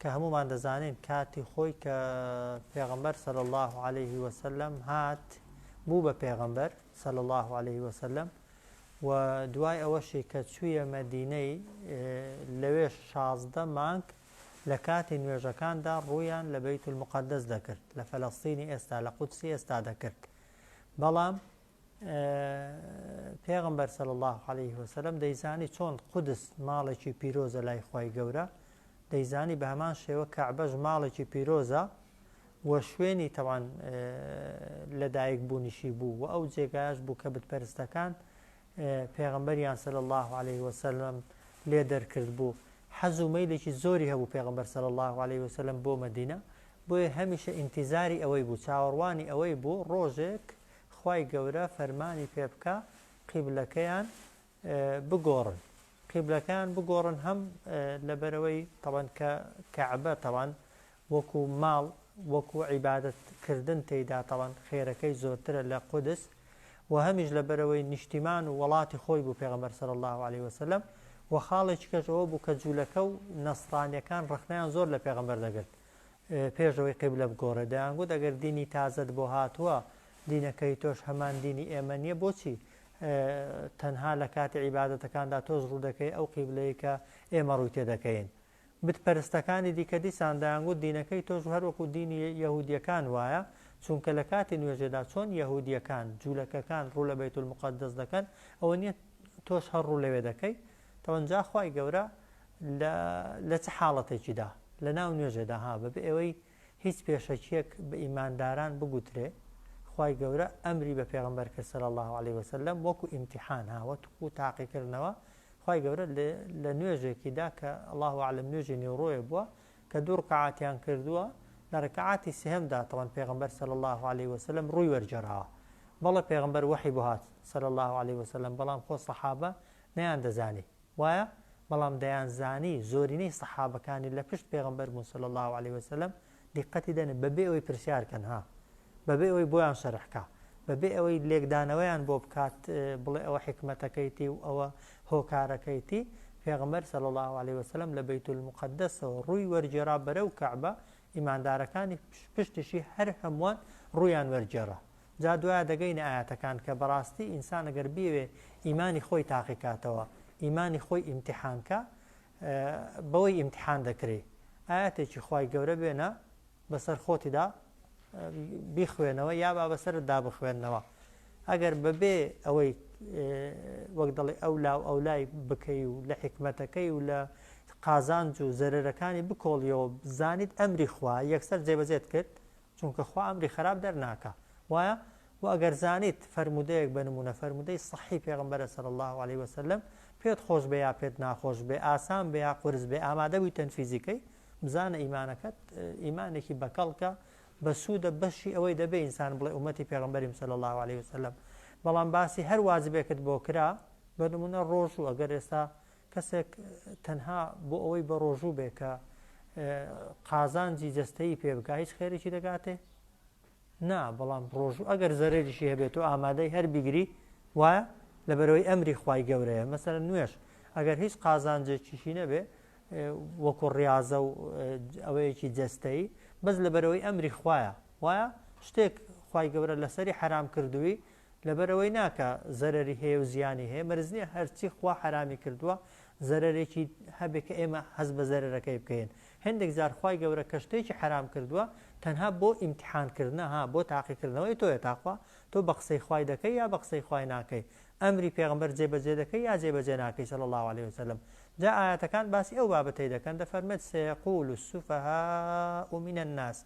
کە هەموومان دەزانین کاتی خۆی کە پێغەمبەر صلی اللە علیه وسلم هات بوو بە پێغەمبەر صلی اللە علیه وسلم و دوای ئەوەشی کە چوویە مەدینەی لەوێ شازدە مانگ لە کاتی نوێژەکاندا ڕوویان لە بەیت المقدس دەکرد لە فەلەستینی ئێستا لە قودسی ئێستا دەکرد بەڵام پێغەمبەر صلی اللە علیه وسلم دەیزانی چۆن قودس ماڵێکی پیرۆزە لای خی گەورە دەیزانی بە هەمان شێوە کەعبەش ماڵێکی پیرۆزە و شوێنی تەوان لەدایک بوونیشی بوو و ئەو جێگایش بوو کە بتپەرستەکان پێغمبەریان سەل الله عليه وسلم لێ دەرکرد بوو حەز و مەیلێکی زۆری هەبوو پێغمبەر سەل الله عليه وسلم بۆ مدینە بۆیە هەمیشە ئینتیزاری ئەوەی بوو چاوەڕوانی ئەوەی بوو ڕۆژێک خوای گەورە فەرمانی پێ بکا قیبلەکەیان بگۆڕن قیبلەکەیان بگۆڕن هەم لەبەرەوەی تەوان کە کەعبە تەوان وەکو ماڵ وەکو عیبادت کردن تێدا تەوان خێرەکەی زۆرترە لە قودس و هەمیش لە بەرەوەی نیشتیمان و وڵاتی خۆی بوو پێغەمبەر سەر الله عليه وسلم و خاڵێکی کەشەوە بوو کە جوولەکە و نەسرانیەکان ڕخنیان زۆر لە پێغەمبەر دەگرت پێش ئەوەی قیبلە بگۆڕێت دەیانگوت ئەگەر دینی تازەت بۆ هاتووە دینەکەی تۆش هەمان دینی ئێمە نییە بۆچی تەنها لە کاتی عیبادەتەکاندا تۆز ڕوو دەکەی ئەو قیبلەیە کە ئێمە ڕووی تێ دەکەین بت پەرستەکانی دیکە دیسان دەیانگوت دینەکەی تۆش هەروەکو دینی یەهودیەکان وایە چونکە لە کاتی نوێژێدا چۆن یەهودیەکان جوولەکەکان ڕوو لە بەیت المقدس دەکەن ئەوە نییە تۆش هەر ڕوو لەوێ دەکەی تەوەن جا خوای گەورە لە لە چ حاڵەتێکیدا لە ناو نوێژێدا ها بە بێ ئەوەی هیچ پێشەکیەک بە ئیمانداران بگوترێ خوای گەورە ئەمری بە پێغمبەر کرد سەر الله عليه وسلم وەکو ئیمتحان ها وە توقو تاقی کردنەوە خوای گەورە لە نوێژێکیدا کە الله عالم نوێژی نێوڕۆیە بووە کە دوو ڕکعاتیان کردووە لە ڕکعاتی سێهەمدا تەوان پێغمبەر سەر الله عليه وسلم ڕووی وەرجەراوە بەڵە پێغمبەر وەحی بۆ هات سەر الله عليه وسلم بەڵام خۆ سەحابە نەیان دەزانی وایە بەڵام دەیان زانی زۆرینەی سەحابەکانی لە پشت پێغەمبەر بوون صلی اللە علیە وسلم دیقەتی دەنێ بەبێ ئەوەی پرسیار کەن ها بەبێ ئەوەی بۆیان شەرح کا بەبێ ئەوەی لێکدانەوەیان بۆ بکات بڵێ ئەوە حکمەتەکەیتی و ئەوە هۆکارەکەیتی پێغەمبەر صلی اللە علیە وسلم لە بیت المقدسەوە ڕووی وەرجێرا بەرەو کەعبە ئیماندارەکانی پشتشی هەر هەمووان ڕوویان وەرجێرا جا دوایە دەگەینە ئایەتەکان کە بەڕاستی ئینسان گەر بیەوێ ئیمانی خۆی تاقی کاتەوە ئیمانی خۆی ئیمتیحانکە بەوەی ئیمتیحان دەکری ئاەتێکی خی گەورە بێنە بەسەر خۆتیدا بیخوێنەوە یا با بەسەردا بخوێندنەوە ئەگەر بەبێ ئەوەی وەک دەڵێ ئەو لاو ئەو لای بکەی و لە حکمەتەکەی و لە قازانج و زەرەرەکانی بکۆڵیەوە زانیت ئەمری خوا یەکسەر جێبەجێت کرد چونکە خوا ئەمری خەراپ دەرناکا وایە و ئەگەر زانیت فەرموودەیەک بە نمونە فەرموودەی صحی پێغمبەرە سەر الله عليه وسلم پێت خۆش بێ یا پێت ناخۆش بێ ئاسان بێ یا قرس بێ ئامادە بووی تەنفیزیکەی بزانە ئیمانەکەت ئیمانێکی بەکەڵکە بەسوودە بەشی ئەوەی دەبێ ئینسان بڵێ ومەتی پێغمبەریم سەل الله عليه وسلم بەڵام باسی هەر واجبێکت بۆ کرا بە نمونە ڕۆژ و ئەگەر ئێستا کەسێک تەنها بۆ ئەوەی بە ڕۆژوو بێ کە قازانجی جەستەیی پێ بکە هیچ خێرێکی دەگاتێ نا بەڵام ڕۆژوو ئەگەر زەرێریشی هەبێت و ئامادەی هەر بیگری وایە لە بەرەوەی ئەمری خی گەورەیە مەسەر نوێش ئەگەر هیچ قازانجێکیشی نەبێ وەکو ڕاضە و ئەوەیەکی جەستەیی بەس لە بەرەوەی ئەمری خویە وایە شتێک خی گەورە لەسەری حرام کردووی لەبەرئەوەی ناکا زەرەری هەیە و زیانی هەیە مەرز نیە هەرچی خوا حەرامی کردووە زەرەرێکی هەبێ کە ئێمە هەست بە زەرەرەکەی بکەین هێندێک جار خوای گەورە کە شتێکی حەرام کردووە تەنها بۆ ئیمتیحان کردنە ها بۆ تاقی کردنەوەی تۆیە تاخوا تۆ بە قسەی خوای دەکەی یا بە قسەی خوای ناکەی ئەمری پێغەمبەر جێبەجێ دەکەی یا جێبەجێ ناکەی صلی اللە علیە وسلم جا ئایاتەکان باسی ئەو بابەتەی دەکەن دەفەرمێت سەیەقول السفهاء من الناس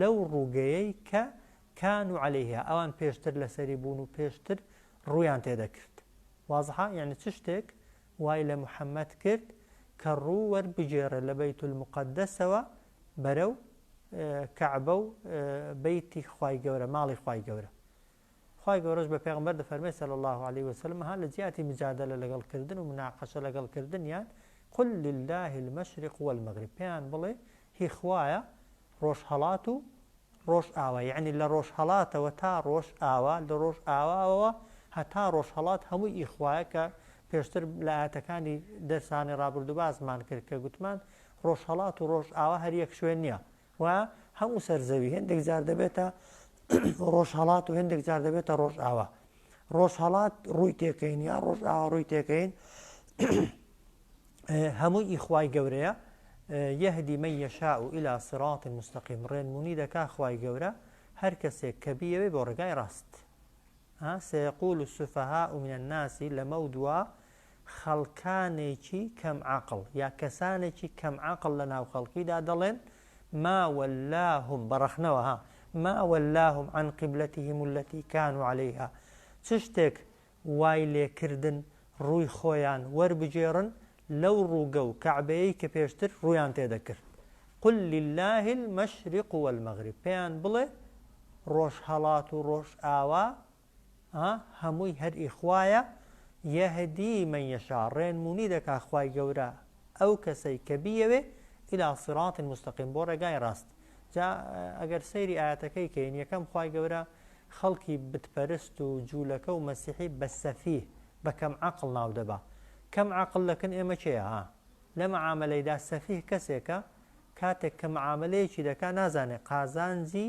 لەو ڕووگەیەی کە، کانو علیها، ئەوان پێشتر لەسەری بوون و پێشتر ڕوویان تێدەکرد. وازحە؟ یەعنی چ شتێک وای لە محەمەد کرد کە ڕوو وەربگێڕێ لە بەیت المقدسەوە بەرەو کەعبە و بەیتی خوای گەورە، ماڵی خوای گەورە؟ خوای گەورەش بە پێغەمبەر دەفەرمێ صلی اللە علیە وسلم ها لە جیاتی مجادلە لەگەڵ کردن و مناقشە لەگەڵ کردنیان قل للە المشرق والمغرب پێیان بڵێ هی خوایە ڕۆژهەڵات و ڕۆژ ئاوا یعنی لە ڕۆژ هەڵاتەوە تا ڕۆژ ئاوا لە ڕۆژ ئاواەوە هەتا ڕۆژ هەڵات هەموو ئیخوایە کە پێشتر لایەتەکانی دەرسانی ڕابردوبازمان کرد کە گوتمان ڕۆژهڵات و ڕۆژ ئاوا هەر یەک شوێن نییە و هەموو سەر زەوی هێندێک جار دەبێتە ڕۆژهڵات و هێندێک جار دەبێتە ڕۆژئاوا ڕۆژهڵات ڕووی تێکەین یا ڕۆژئاوا ڕووی تێکەین هەمووی ئیخوای گەورەیە یهدی من یشاء الى صراط مستقیم ڕێنمونی دەکا خوای گەورە هەر کەسێک کە بیەوێ بۆ ڕێگای ڕاست سيقول السفهاء من الناس لەمە دوا خەڵکانێکی کەم عەقڵ یا کەسانێکی کەم عەقڵ لە ناو خەڵکیدا دەڵێن، ما ولاهم، بە ڕەخنەوە ها، ما ولاهم عن قبلتهم التي کانوا علیها، چ شتێک وای لێ کردن ڕووی خۆیان وەربگێڕن لەو ڕووگە و کەعبەیەی کە پێشتر ڕوویان تێ دەکرد؟ قل للە المشرق والمغرب، پێیان بڵێ، ڕۆژهەڵات و ڕۆژئاوا ئا هەمووی هەر ئی خوایە یەهدی من یشاء ڕێنمونی دەکا خوای گەورە ئەو کەسەی کە بیەوێ الی صراط مستقیم بۆ ڕێگای ڕاست جا ئەگەر سەیری ئاەتەکەی کەین یەکەم خوای گەورە خەڵکی بتپەرست و جوولەکە و مەسیحی بە سەفیه بە کەم عەقڵ ناو دەبا کەم عەقڵ لەکن ئێمە کێیە ها لە مەعامەلەیدا سەفیه کەسێکە کاتێک کە مەعامەلەیەکی دەکا نازانێ قازانجی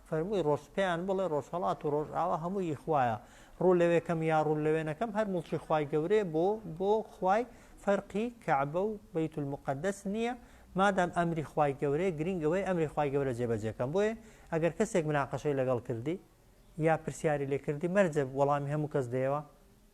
فەرمووی ڕۆژ پێیان بڵێ ڕۆژهەڵات و ڕۆژئاوا هەموو ی خوایە ڕوو لەوێکەم یا ڕوو لەوێ نەکەم هەر موڵکی خوای گەورەیە بۆ بۆ خوای فەرقی کەعبە و بەیت المقدس نییە مادام ئەمری خوای گەورەیە گرینگ ئەوەی ئەمری خوای گەورە جێبەجێکەم بۆیە ئەگەر کەسێک مناقەشەی لەگەڵ کردی یا پرسیاری لێ کردی مەرجە وەڵامی هەموو کەس دەیەوە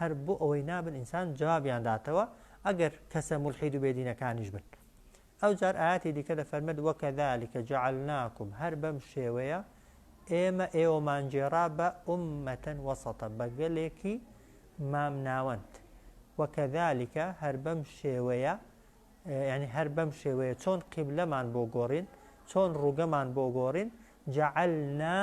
هەر بۆ ئەوەی نابن ئینسان جوابیان داتەوە ئەگەر کەسە مولحید و بێدینەکانیش بن ئەو جار ئاەتی دیکە دە فەرمەد وەکە ذلكکە جعلناکم هەر بەم شێوەیە ئێمە ئێوەمانجێرا بە ئومەتەن وەسەتە بەگەلێکی مام ناوەند وەکە ذلكکە هەر بەم شێوەیە ینی هەر بەم شێوەیە چۆن قیبلەمان بۆ گۆڕین چۆن ڕووگەمان بۆ گۆڕین جعلنا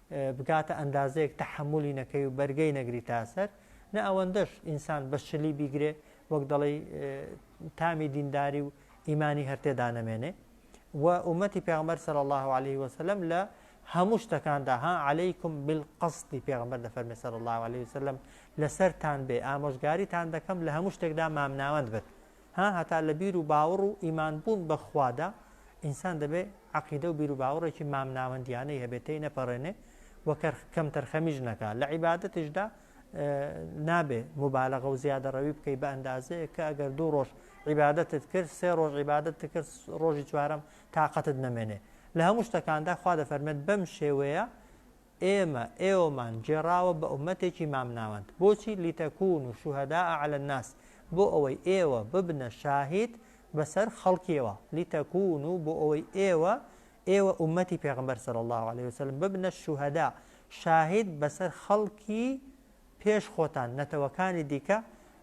بگاتە ئەندازەیەک تەحەمولی نەکەی و بەرگەی نەگریتە سەر، نە ئەوەندەش ئینسان بە شلی بیگرێ وەک دەڵێی تامی دینداری و ئیمانی هەر تێدا نەمێنێ و ئومەتی پێغمبەر صلی الله عليه وسلم لە هەموو شتەکاندا ها عەلەیکم بالقەستی پێغمبەر دەفەرمێ صلی الله عليه وسلم لەسەرتان بێ ئامۆژگاریتان دەکەم لە هەموو شتێکدا مامناوەند بن ها هەتا لە بیر و باوەڕ و ئیمان بوون بە خوادا ئینسان دەبێ عەقیدە و بیر و باوەڕێکی مامناوەندیانەی هەبێ تێی نەپەڕێنێ و کەر کەمتەرخەمیش نەکا لە عیبادەتیشدا نابێ مبالغە و زیادەڕەوی بکەی بە ئەندازەیە کە ئەگەر دوو ڕۆژ عیبادەتت کرد سێ ڕۆژ عیبادەت کرد ڕۆژی چوارم تااقەتت نەمێنێ لە هەموو شتەکاندا خوا دەفەرمێت بەم شێوەیە ئێمە، ئێوەمان، گێڕاوە بە ئوممەتێکی مامناوەند، بۆچی؟ لتکونوا شهداء علی الناس، بۆ ئەوەی ئێوە ببنە شاهید بەسەر خەڵکیەوە، لتکونوا بۆ ئەوەی ئێوە، ئێوە ئوممەتی پێغەمبەر صلی اللە علیە وسلم، ببنە شهداء شاهید بەسەر خەڵکی پێش خۆتان نەتەوەکانی دیکە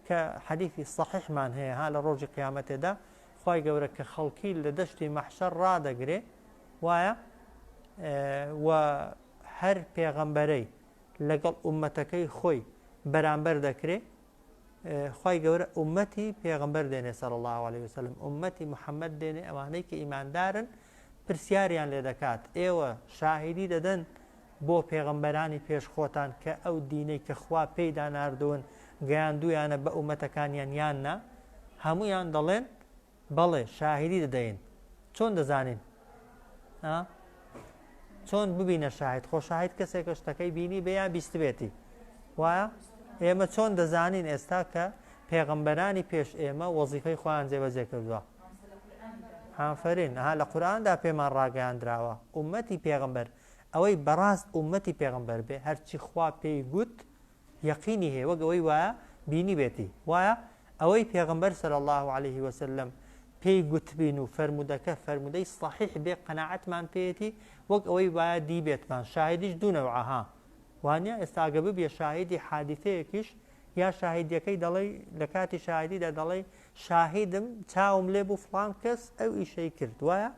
کە حەدیثی سەحیحمان هەیە ها لە ڕۆژی قیامەتێدا خوای گەورە کە خەڵکی لە دەشتی مەحشەر ڕادەگرێ وایە و هەر پێغەمبەرەی لەگەڵ ئومەتەکەی خۆی بەرامبەر دەکرێ خی گەورە ئومەتی پێغمبەر دێنێ سەر الله عليه وسلم ئومەتی محەممەد دێنێ ئەوانەی کە ئیماندارن پرسیاریان لێ دەکات ئێوە شاهیدی دەدەن بۆ پێغەمبەرانی پێش خۆتان کە ئەو دینەی کە خوا پێیدا ناردوون گەیاندوویانە بە ئومەتەکانیان یان نا؟ هەموویان دەڵێن، بەڵێ، شاهیدی دەدەین. چۆن دەزانین؟ ها؟ چۆن ببینە شاهید خۆ شاهید کەسێکە شتەکەی بینی بێ یا بیستبێتی وایە ئێمە چۆن دەزانین ئێستا کە پێغەمبەرانی پێش ئێمە وەزیفەی خۆیان جێبەجێ کردووە هافرین ها لە قورآاندا پێمان ڕاگەیاندراوە عومەتی پێغمبەر ئەوەی بەڕاست ئوممەتی پێغەمبەر بێ هەرچی خوا پێی گوت یەقینی هەیە وەک ئەوەی وایە بینیبێتی وایە ئەوەی پێغەمبەر صلی الله علیه وسلم پێی گوتبین و فەرمودەکە فەرمودەی صحیح بێ قەناعەتمان پێیەتی وەک ئەوەی وایە دیبێتمان شاهدیش دوونەوعها وانە ئێستاگە ببیە شاهدی حادیثەیەکیش یا شاهدیەکەی دەڵی لە کاتی شاهدیدا دەڵی شاهدم چاوم لێ بوو فلان کەس ئەو ئیشەی کرد وایە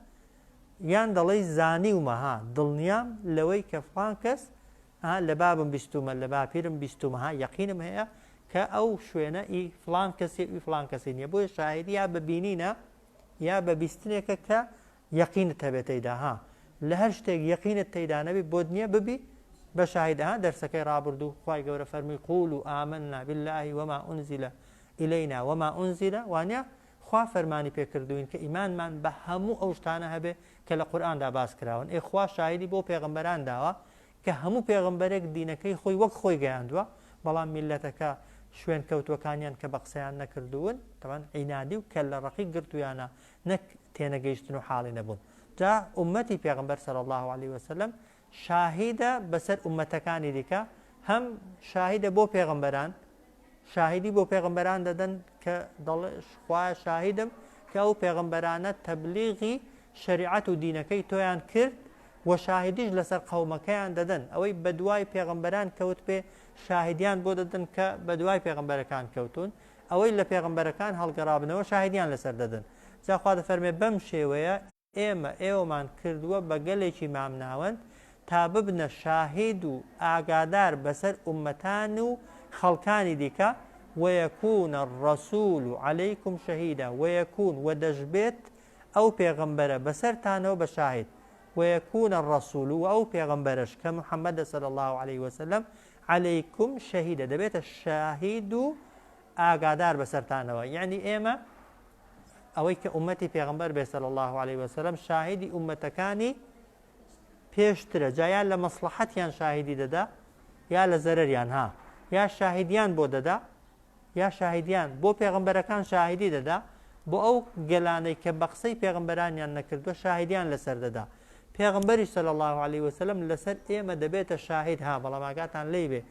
یان دەڵێی زانیومە ها دڵنیام لەوەی کە فڵان کەس ها لە بابم بیستومە لە باپیرم بیستومە ها یەقینم هەیە کە ئەو شوێنە ئی فڵان کەسی ئی فڵان کەسی نییە بۆیە شاعری یا بە بینینە یا بە بیستنێکە کە یەقینت هەبێت تێیدا ها لە هەر شتێک یەقینت تێیدا نەبی بۆت نییە ببی بە شاهیدا ها دەرسەکەی ڕابردوو خی گەورە فەرمی قول و ئامننا باللهی وما ئونزیلە ئیلینا وما ئونزیلە وانە خوا فەرمانی پێ کردووین کە ئیمانمان بە هەموو ئەو شتانە هەبێ کە لە قورئاندا باس کراون، ئێ خوا شاهیدی بۆ پێغەمبەران داوە کە هەموو پێغەمبەرێک دینەکەی خۆی وەک خۆی گەیاندووە بەڵام میللەتەکە شوێن کەوتووەکانیان کە بە قسەیان نەکردوون تەبعەن عینادی و کەللە ڕەقی گرتوویانە نەک تێنەگەیشتن و حاڵی نەبوون جا ئوممەتی پێغەمبەر صلی اللە علیە وسلم شاهیدە بەسەر ئوممەتەکانی دیکە، هەم شاهیدە بۆ پێغەمبەران، شاهیدی بۆ پێغەمبەران دەدەن کە دەڵێ خوایە شاهیدم کە ئەو پێغەمبەرانە تەبلیغی شەریعەت و دینەکەی تۆیان کرد و شاهیدیش لەسەر قەومەکەیان دەدەن ئەوەی بەدوای پێغەمبەران کەوت پێ شاهیدیان بۆ دەدەن کە بەدوای پێغەمبەرەکان کەوتون ئەوەی لە پێغەمبەرەکان هەڵگەڕابنەوە شاهیدیان لەسەر دەدەن جاخوا دەفەرمێ بەم شێوەیە ئێمە ئێوەمان کردووە بە گەلێکی مامناوەند تا ببنە شاهید و ئاگادار بەسەر ئوممەتان و خەڵکانی دیکە، ویکون الرسول علیکم شهیدا، ویکون، وە دەشبێت، ئەو پێغەمبەرە بەسەرتانەوە بە شاهید، ویکون الرسول، وە ئەو پێغەمبەرەش کە محمدە صلی اللە علیە وسلم، علیکم شهیدا، دەبێتە شاهید و ئاگادار بەسەرتانەوە یعنی ئێمە ئەوەی کە ئومەتی پێغمبەر بێسەل الله عليه وسلم شاهدی ئومەتەکانی پێشترە جایان لە مەسلحەتیان شاهدی دەدا یا لە زەرەریان ها یا شاهدیان بۆ دەدا یا شاهدیان بۆ پێغمبەرەکان شاهدی دەدا بۆ ئەو گەلانەی کە بە قسەی پێغمبەرانیان نەکردووە شاهدیان لەسەر دەدا پێغمبەری سەل الله عليه وسلم لەسەر ئێمە دەبێتە شاهد ها بەڵام ئاگاتان لی بێ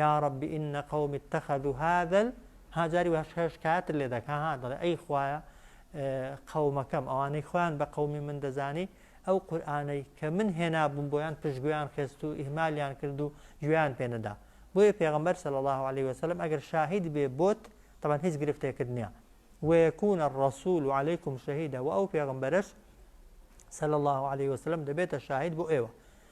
یاڕەبی ان قومی اتخذو هذا ها جاری وە هەش هەش کاتر لێ دەک ها دەڵێ ئەی خوایە قەومەکەم ئەوانەی خۆیان بە قەومی من دەزانی ئەو قورآانەی کە من هێنابووم بۆیان پشتگویان خێست و ئیهمالیان کرد و گوێیان پێنەدا بۆیە پێغمبەر صلی الله عليه وسلم ئەگەر شاهید بێ بۆت طبعا هیچ گرفتێکت نییە ويكون الرسول عليكم شهيدا و ئەو پێغمبەرش صلی الله عليه وسلم دەبێتە شاهید بۆ ئێوە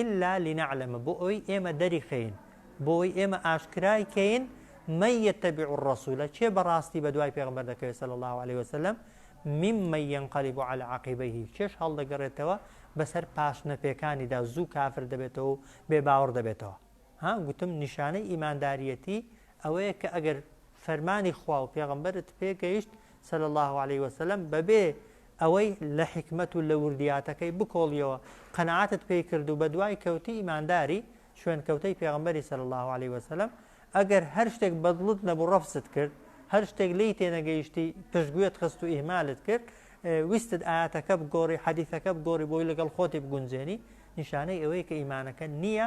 الا لنعلم بۆئەوەی ئێمە دەریخەین، بۆئەوەی ئێمە ئاشکرای کەین، من یتبع الرسول کێ بەڕاستی بەدوای پێغەمبەر دەکەوێت صلی اللە علیە وسلم، ممن ینقلب علی عقبیه کێش هەڵدەگەڕێتەوە بەسەر پاشنە پێکانیدا، زوو کافر دەبێتەوە و بێ باوەڕ دەبێتەوە. ها، گوتم، نیشانەی ئیمانداریەتی ئەوەیە کە ئەگەر فەرمانی خوا و پێغەمبەرت پێگەیشت صلی اللە علیە وسلم بەبێ ئەوەی لە حیکمەت و لە وردیاتەکەی بکۆڵیەوە قەناعەتت پێی کرد و بەدوای کەوتی ئیمانداری شوێنکەوتەی پێغەمبەری صلی اللە علیە وسلم ئەگەر هەر شتێک بە دڵت نەبوو ڕەفزت کرد هەر شتێک لێی تێنەگەیشتی پشتگوێت خست و ئیهمالت کرد ویستت ئاەتەکە بگۆڕی حەدیثەکە بگۆڕی بۆی لەگەڵ خۆتی بگونجێنی نیشانەی ئەوەیە کە ئیمانەکە نییە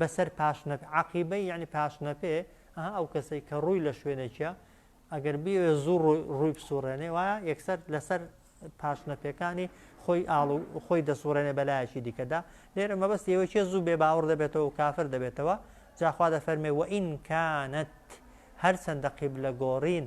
بەسەر پاشنەپ، عەقیبە یەعنی پاشنەپێ، ئەها ئەو کەسەی کە ڕووی لە شوێنێکیە ئەگەر بیەوێ زوو ڕووی بسوڕێنێ وایە یەکسەر لەسەر پاشنەپێکانی خۆی ئاڵ و خۆی دەسوڕێنێ بە لایەکی دیکەدا لێرە مەبەستی ئەوەی کێ زوو بێ باوەڕ دەبێتەوە و کافر دەبێتەوە جا خوا دەفەرمێ وئین کانت هەرچەندە قیبلە گۆڕین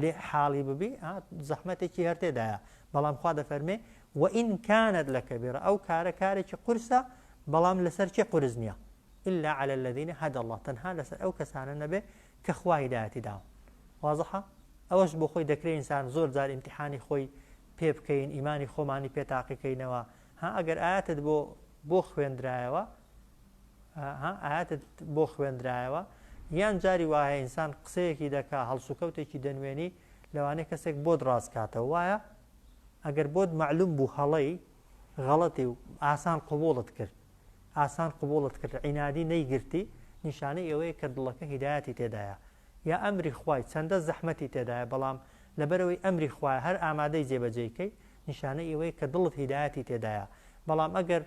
لێ حاڵی ببی ها زەحمەتێکی هەر تێدایە بەڵام خوا دەفەرمێ و ئین کانت لە کەبیرە ئەو کارە کارێکی قورسە بەڵام لەسەر چێ قورس نییە إلا على الذين هدى الله تەنها لەسەر ئەو کەسانە نەبێ کە خوا هیدایەتی داون وازحە ئەوەش بۆ خۆی دەکرێت ئینسان زۆر جار ئیمتحانی خۆی پێ بکەین ئیمانی خۆمانی پێ تاقیکەینەوە ها ئەگەر ئاەتت بۆ بۆ خوێندرایەوە ها ئایەتت بۆ خوێندرایەوە یان جاری وایە ئینسان قسەیەکی دەکا هەڵسوکەوتێکی دەنوێنی لەوانەیە کەسێک بۆت ڕاستکاتەوە وایە ئەگەر بۆت معلوم بوو هەڵەی غەڵەتی و ئاسان قوبوڵت کرد ئاسان قوبوڵت کرد عینادی نەیگرتی نیشانەی ئەوەیە کە دڵەکە هیدایەتی تێدایە یا ئەمری خوای چەندە زەحمەتی تێدایە بەڵام لەبەرەوەی ئەمری خوای هەر ئامادەی جێبەجێکەی نیشانەی ئەوەیە کە دڵت هیدایەتی تێدایە بەڵام ئەگەر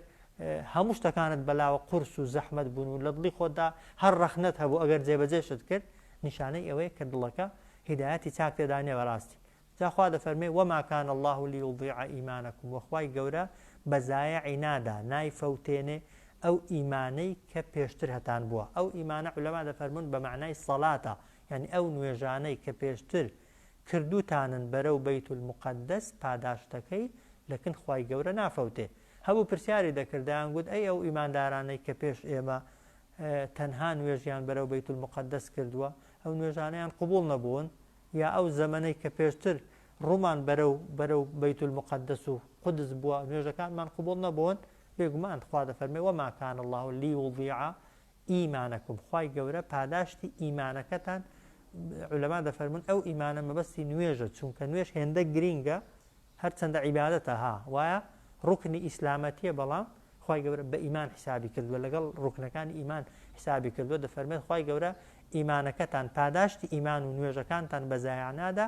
هەموو شتەکانت بەلاوە قورس و زەحمەت بوون و لە دڵی خۆتدا هەر ڕەخنەت هەبوو ئەگەر جێبەجێشت کرد نیشانەی ئەوەیە کە دڵەکە هیدایەتی چاک تێدانێ بەڕاستی جاخوا دەفەرمێ وەماکان الله و لیوضیع ئیمانەکم وەخوای گەورە بەزایعی نادا نایفەوتێنێ ئەو ئیمانەی کە پێشتر هەتان بووە ئەو ئیمانە علەما دەفەرمونون بە معنای سەلاتە یعنی ئەو نوێژانەی کە پێشتر کردوتانن بەرەو بیت المقدس پاداشتەکەی لەکن خوای گەورە نافەوتێ هەبوو پرسیاری دەکرد دەیان گوت ئەی ئەو ئیماندارانەی کە پێش ئێمە تەنها نوێژیان بەرەو بیت المقدس کردووە ئەو نوێژانەیان قبول نەبوون یا ئەو زەمەنەی کە پێشتر ڕوومان بەرەو بەرەو بیت المقدس و قدس بووە نوێژەکانمان قبول نەبوون بێگومان خوا دەفەرمێ وما كان الله ليضيع ایمانکم خوای گەورە پاداشتی ایمانەکەتان علەما دەفەرمون ئەو ایمانە مەبەستی نوێژە چونکە نوێژ هێندە گرینگە هەرچەندە عیبادەتە ها وایە ڕوکنی ئیسلامەتیە بەڵام خی گەورە بە ئیمان حسابی کردووە لەگەڵ ڕوکنەکانی ئیمان حسابی کردووە دەفەرمێت خی گەورە ئیمانەکەتان پاداشتی ئیمان و نوێژەکانتان بەزایانادا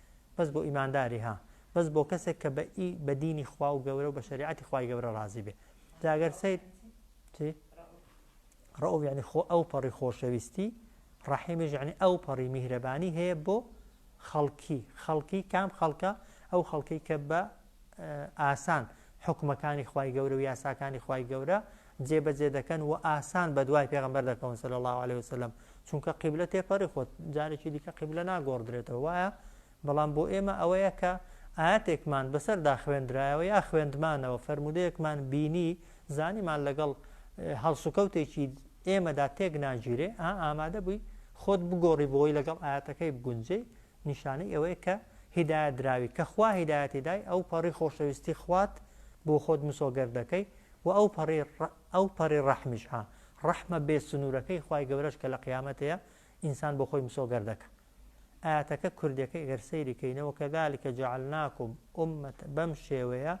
بەس بۆ ئیمانداری ها بەس بۆ کەسێک کە بە ئی بە دینی خوا و گەورە و بە شریعەتی خوای گەورە ڕازی بێ جاگەر سیر چی ڕەوف یعنی خۆ ئەو پەڕی خۆشەویستی ڕەحیمیش یعنی ئەو پەڕی میهرەبانی هەیە بۆ خەڵکی خەڵکی کام خەڵکە ئەو خەڵکی کە بە ئاسان حوکمەکانی خوای گەورە و یاساکانی خوای گەورە جێبەجێ دەکەن و ئاسان بە دوای پێغمبەر دەکەون سەل الله عليه وسلم چونکە قیبلە تێپەڕی خۆت جارێکی دیکە قیبلە ناگۆڕدرێتەوە وایە بەڵام بۆ ئێمە ئەوەیە کە ئاەتێکمان بەسەردا خوێندرایەوە یا خوێندمانەوە فەرمودەیەکمان بینی زانیمان لەگەڵ هەڵسوکەوتێکی ئێمەدا تێک ناگیرێ ئا ئامادە بووی خۆت بگۆڕی بۆی لەگەڵ ئاەتەکەی بگونجێ نیشانەی ئەوەیە کە هیدایەت دراوی، کە خوا هیدایەتی دای، ئەو پەڕی خۆشەویستی خوات بۆ خۆت مسۆگەر دەکەی و ئەو پەڕی، ئەو پەڕی ڕەحمیش، ها، ڕەحمە بێ سنوورەکەی خوای گەورەش کە لە قیامەتێە ئینسان بۆ خۆی مسۆگەر دەکا. ئایەتەکە کوردێکەی گەر سەیری کەینە، وکذلک جعلناکم امە، بەم شێوەیە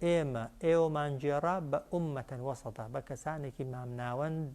ئێمە ئێوەمان گێڕا بە امە وسطا، بە کەسانێکی مامناوەند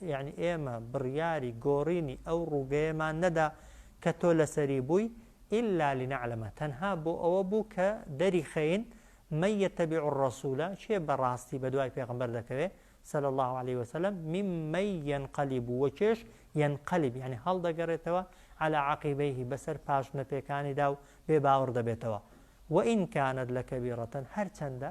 یەعنی ئێمە بڕیاری گۆڕینی ئەو ڕووگەیەمان نەدا کە تۆ لەسەری بووی، الا لنعلم، تەنها بۆ ئەوە بوو کە دەریخەین، من یتبع الرسول، کێ بە ڕاستی بە دوای پێغەمبەر دەکەوێ، صلی اللە علیە وسلم، ممن ینقلب، وکێش، ینقلب، یەعنی هەڵدەگەڕێتەوە، علی عقیبیه، بەسەر پاشنەپێکانیدا و بێ باوڕ دەبێتەوە، وان کانت لکبیرە، هەرچەندە.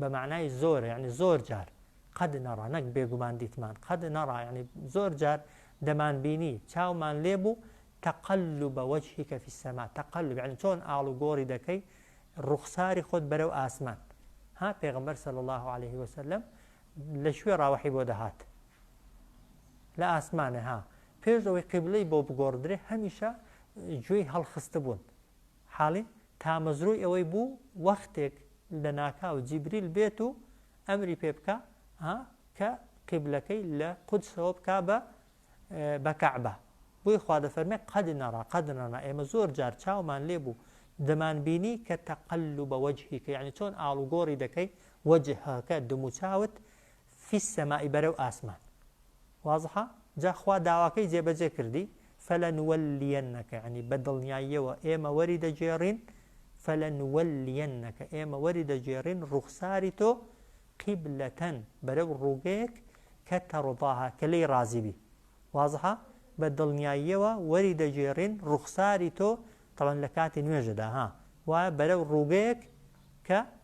بە مەعنای زۆرە یعنی زۆر جار قەد نەڕا نەک بێگومان دیتمان قەد نەڕا یعنی زۆر جار دەمان بینی چاومان لێ بوو تەقلب وجهیکە فی السما تەقلب یعنی چۆن ئاڵ و گۆڕی دەکەی ڕوخساری خۆت بەرەو ئاسمان ها پێغمبەر صلی الله عليه وسلم لە شوێ ڕاوەحی بۆ دەهات لە ئاسمانە ها پێش ئەوەی قیبلەی بۆ بگۆڕدرێ هەمیشە گوێی هەڵخستە بوون حاڵی تامەزرۆی ئەوەی بوو وەختێک لەناکاو جیبریل بێت و ئەمری پێ بکا ها کە قیبلەکەی لە قودسەوە بکا بە بە کەعبە بۆی خوا دەفەرمێ قەد نەڕا قەد نەڕا ئێمە زۆر جار چاومان لێ بوو دەمان بینی کە تەقلب وجهیکە یعنی چۆن ئاڵوگۆڕی دەکەی وجهەکە دموچاوت فی السماء بەرەو ئاسمان. واضحە؟ جا خوا داواکەی جێبەجێ کردی، فلنولیەنک یەعنی بە دڵنیاییەوە ئێمە وەری دەگێڕین، فلنولیەنک ئێمە وەری دەگێڕین ڕووخساری تۆ، قیبلەتەن بەرەو ڕووگەیەک، کە تەڕضاها کە لێی ڕازی بی. واضحە؟ بە دڵنیاییەوە وەری دەگێڕین ڕووخساری تۆ، تەبعەن لە کاتی نوێژەدا ها، وایە بەرەو ڕووگەیەک کە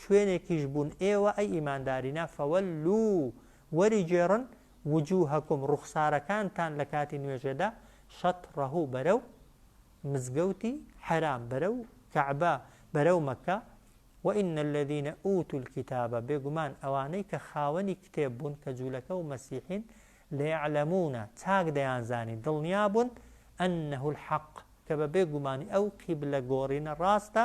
شوێنێکیش بوون ئێوە، ئەی ئیماندارینە، فەوەللو، وەریگێڕن، وجوهەکم، ڕوخسارەکانتان، لە کاتی نوێژێدا، شەتڕەه، بەرەو، مزگەوتی، حەرام، بەرەو، کەعبە، بەرەو، مەککە، وئن الذین ئوتو الکتاب، بێگومان ئەوانەی کە خاوەنی کتێب بوون کە جوولەکە و مەسیحین، لیعلمون، چاک دەیانزانی، دڵنیابوون، ئەنه الحق، کە بە بێ گومانی ئەو قیبلە گۆڕینە ڕاستە،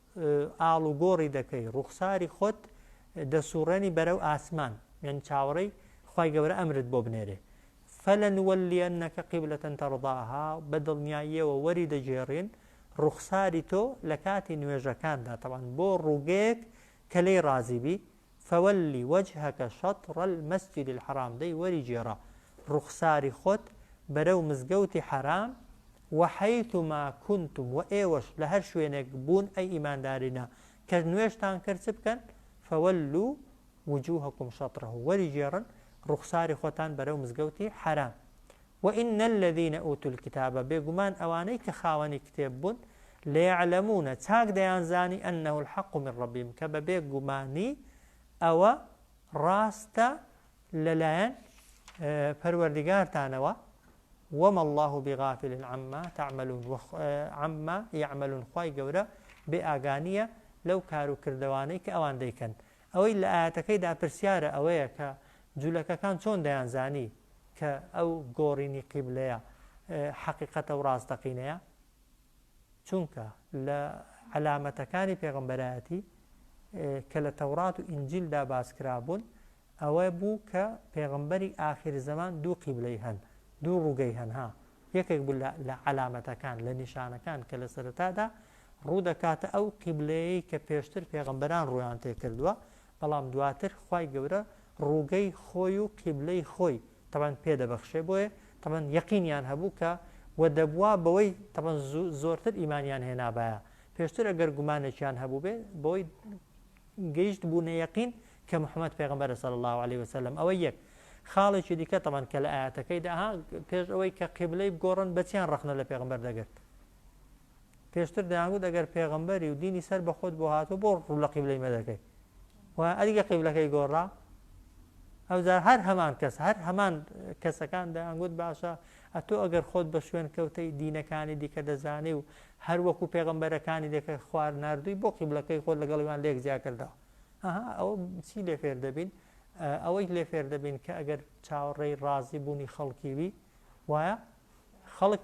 ئاڵوگۆڕی دەکەی ڕوخساری خۆت دەسوڕێنی بەرەو ئاسمان یانی چاوەڕێی خوای گەورە ئەمرت بۆ بنێرێ فلنولیەنەکە قیبلە تەرضاها بە دڵنیاییەوە وەری دەگێڕین ڕوخساری تۆ لە کاتی نوێژەکاندا تەوان بۆ ڕووگەیەک کە لێی ڕازیبی فول وجهک شطر المسجد الحرام دەی وەری گێڕە ڕوخساری خۆت بەرەو مزگەوتی حەرام وحیثما کنتم وە ئێوەش لە هەر شوێنێک بوون ئەی ئیماندارینە کە نوێژتان کرد چ بکەن فولو وجوهکم شطره وەری گێڕن ڕوخساری خۆتان بەرەو مزگەوتی حەرام و ان الذین اوتوا الکتاب بێگومان ئەوانەی کە خاوەنی کتێب بوون لیعلمون چاک دەیانزانی انه الحق من ربهم کە بەبێ گومانی ئەوە ڕاستە لەلایەن پەروەردگارتانەوە وما الله بغافل عما تعملون وخ... عما يعملون خوای گەورە بێ ئاگانیە لەو کار و کردەوانەی کە ئەوان دەیکەن ئەوەی لە ئایەتەکەیدا پرسیارە ئەوەیە کە جولەکەکان چۆن دەیانزانی کە ئەو گۆڕینی قیبلەیە حەقیقەتە و ڕاستەقینەیە چونکە لە علامەتەکانی پێغمبەرایەتی کە لە تەورات و ئینجیلدا باسکرابوون ئەوە بوو کە پێغمبەری ئاخیر زەمان دوو قیبلەی هەن دوو ڕووگەی هەنها یەکێک بوو لە لە عەلامەتەکان، لە نیشانەکان کە لە سەرەتادا ڕوو دەکاتە ئەو قیبلەیەی کە پێشتر پێغەمبەران ڕوویان تێ کردووە، بەڵام دواتر خوای گەورە ڕووگەی خۆی و قیبلەی خۆی تەبعەن پێ دەبەخشێ بۆیە تەبعەن یەقینیان هەبوو کە وە دەبوا بەوەی تەبعەن زۆرتر ئیمانیان هێنابایە پێشتر ئەگەر گومانێکیان هەبووبێ بەوەی گەیشت بوونە یەقین کە محمد پێغەمبەرە صلی اللە علیە وسلم ئەوە یەک خاڵێکی دیکە تەبەن کە لە ئایەتەکەیدا ها پێش ئەوەی کە قیبلەی بگۆڕن بەچیان ڕەخنە لە پێغمبەر دەگرت پێشتر دەیانگوت ئەگەر پێغمبەری و دینی سەر بە خۆت بۆ هاتو بۆ ڕوو لە قیبلەی مەدەکەی و ئەدیگە قیبلەکەی گۆڕا ئەوجار هەر هەمان کەس هەر هەمان کەسەکان دەیانگوت باشە ئەتۆ ئەگەر خۆت بە شوێن کەوتەی دینەکانی دیکە دەزانێ و هەر وەکو پێغەمبەرەکانی لەکەر خوار ناردووی بۆ قیبلەکەی خۆت لەگەڵ ئەوان لێک جیا کردەوە ئەها ئەوە چی لێ فێر دەبین ئەوەی لێ فێر دەبین کە ئەگەر چاوەڕێی ڕازی بوونی خەڵکی بی وایە خەڵک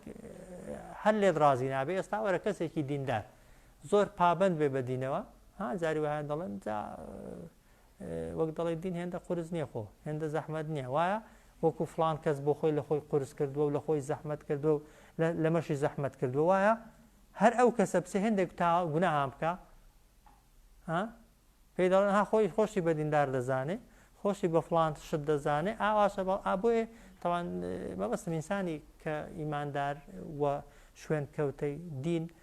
هەر لێت ڕازی نابێ ئێستا وەرە کەسێکی دیندار زۆر پابند بێ بە دینەوە ها جاری وایە دەڵێن جا وەک دەڵێ دین هێندە قورس نییە خۆ هێندە زەحمەت نییە وایە وەکو فلان کەس بۆ خۆی لە خۆی قورس کردووە و لە خۆی زەحمەت کردو و لەمەشی زەحمەت کردو وایە هەر ئەو کەسە بچێ هێندێک تا گوناهام بکە پێی دەڵێن ها خۆی خۆشی بە دیندار دەزانێ خۆشی بە فلان شت دەزانێ ئاواشە بەڵ ئابێ تاوان مەبەستم ئینسانی کە ئیماندار و شوێن کەوتەی دین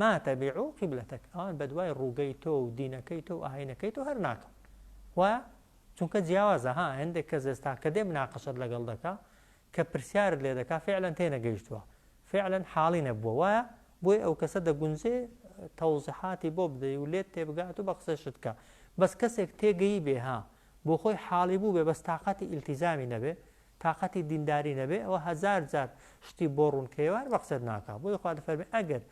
ما تبیع قبلتک ئەوان بەدوای ڕووگەی تۆ و دینەکەی تۆ و ئاینەکەی تۆ هەر ناکەن وایە چونکە جیاوازە ها هەندێک کەس ئێستا کە دێ مناقەشەت لەگەڵ دەکا کە پرسیارت لێ دەکا فعلەن تێنەگەیشتووە فعلەن حاڵی نەبووە وایە بۆی ئەو کەسە دەگونجێ تەوزحاتی بۆ بدەی و لێت تێبگات و بە قسەشت کە بەس کەسێک تێگەی بێ ها بۆ خۆی حاڵی بوو بێ بەس تااقەتی ئیلتیزامی نەبێ تاقەتی دینداری نەبێ ئەوە هەزار جار شتی بۆ ڕوون کەێوار بە قسەت ناکا بۆیە خوا دەفەرمێ ئەگەر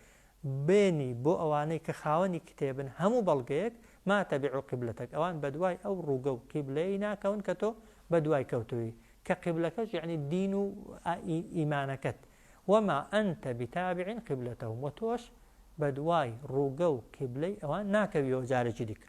بێنی بۆ ئەوانەی کە خاوەنی کتێبن هەموو بەڵگەیەک ما تەبیعو قیبلەتەک ئەوان بەدوای ئەو ڕووگە و قیبلەیەی ناکەون کە تۆ بەدوای کەوتووی کە قیبلەکەش یعنی دین و ئیمانەکەت وما انت بتابع قبلتهم و تۆش بەدوای ڕووگە و قیبلەی ئەوان ناکەویەوە جارێکی دیکە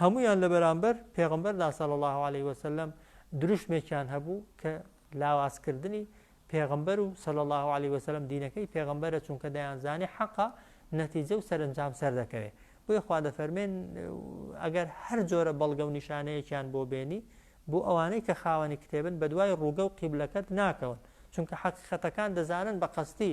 هەموویان لە بەرامبەر پێغەمبەردا صلی اللە علیە وسلم دروشمێکیان هەبوو کە لاوازکردنی پێغەمبەر و صلی اللە علیە وسلم دینەکەی پێغەمبەرە چونکە دەیانزانی حەقە نەتیجە و سەرنجام سەر دەکەوێت بۆی خوا دەفەرمێن ئەگەر هەر جۆرە بەڵگە و نیشانەیەکیان بۆ بێنی بۆ ئەوانەی کە خاوەنی کتێبن بە دوای ڕووگە و قیبلەکەت ناکەون چونکە حەقیقەتەکان دەزانن بە قەستی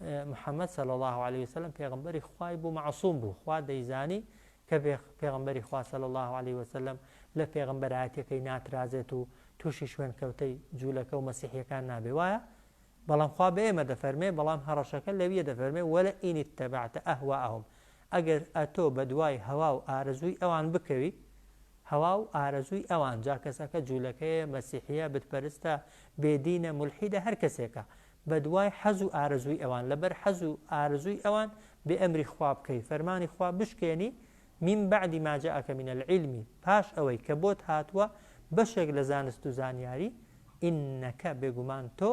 محمد صلی اللە علیە وسلم پێغەمبەری خوای بوو معصوم بوو خوا دەیزانی کە پێغەمبەری خوا صلی اللە علیە وسلم لە پێغەمبەرایەتەکەی ناترازێت و تووشی شوێن کەوتەی جوولەکە و مەسیحیەکان نابێ وایە بەڵام خوا بە ئێمە دەفەرمێ بەڵام هەڕەشەکە لەویە دەفەرمێ وەلە ئینی تەبعتە ئەهوا ئەهم ئەگەر ئەتۆ بە دوای هەوا و ئارەزووی ئەوان بکەوی هەوا و ئارەزووی ئەوان جا کەسەکە جوولەکەیە مەسیحە بتپەرستە بێدینە ملحیدە هەر کەسێکە بەدوای حەز و ئارەزووی ئەوان لەبەر حەز و ئارەزووی ئەوان بێ ئەمری خوا بکەی فەرمانی خوا بشکێنی من بعد ما جاءک من العلم پاش ئەوەی کە بۆت هاتووە بەشێک لە زانست و زانیاری ئینەک بێگومان تۆ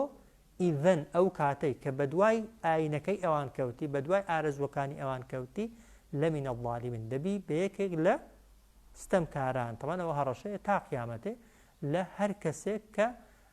ئیذەن ئەو کاتەی کە بەدوای ئاینەکەی ئەوان کەوتی بەدوای ئارەزووەکانی ئەوان کەوتی لەمین الظالمین دەبی بە یەکێک لە ستەمکاران تەبەن ئەوە هەڕەشەیە تا قیامەتێ لە هەر کەسێک کە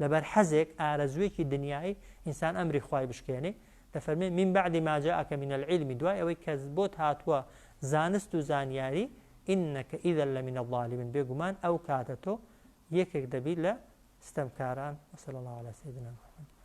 لەبەر حەزێک، ئارەزووێکی دنیایی، ئینسان ئەمری خوای بشکێنێ، دەفەرموێ، من بعد ما جاءک من العلم، دوای ئەوەی کە بۆت هاتووە زانست و زانیاری، انک اذا لمن الظالمین، بێگومان ئەو کاتە تۆ یەکێک دەبیت لە ستەمکاران، وصلی اللە علی سیدنا محمد.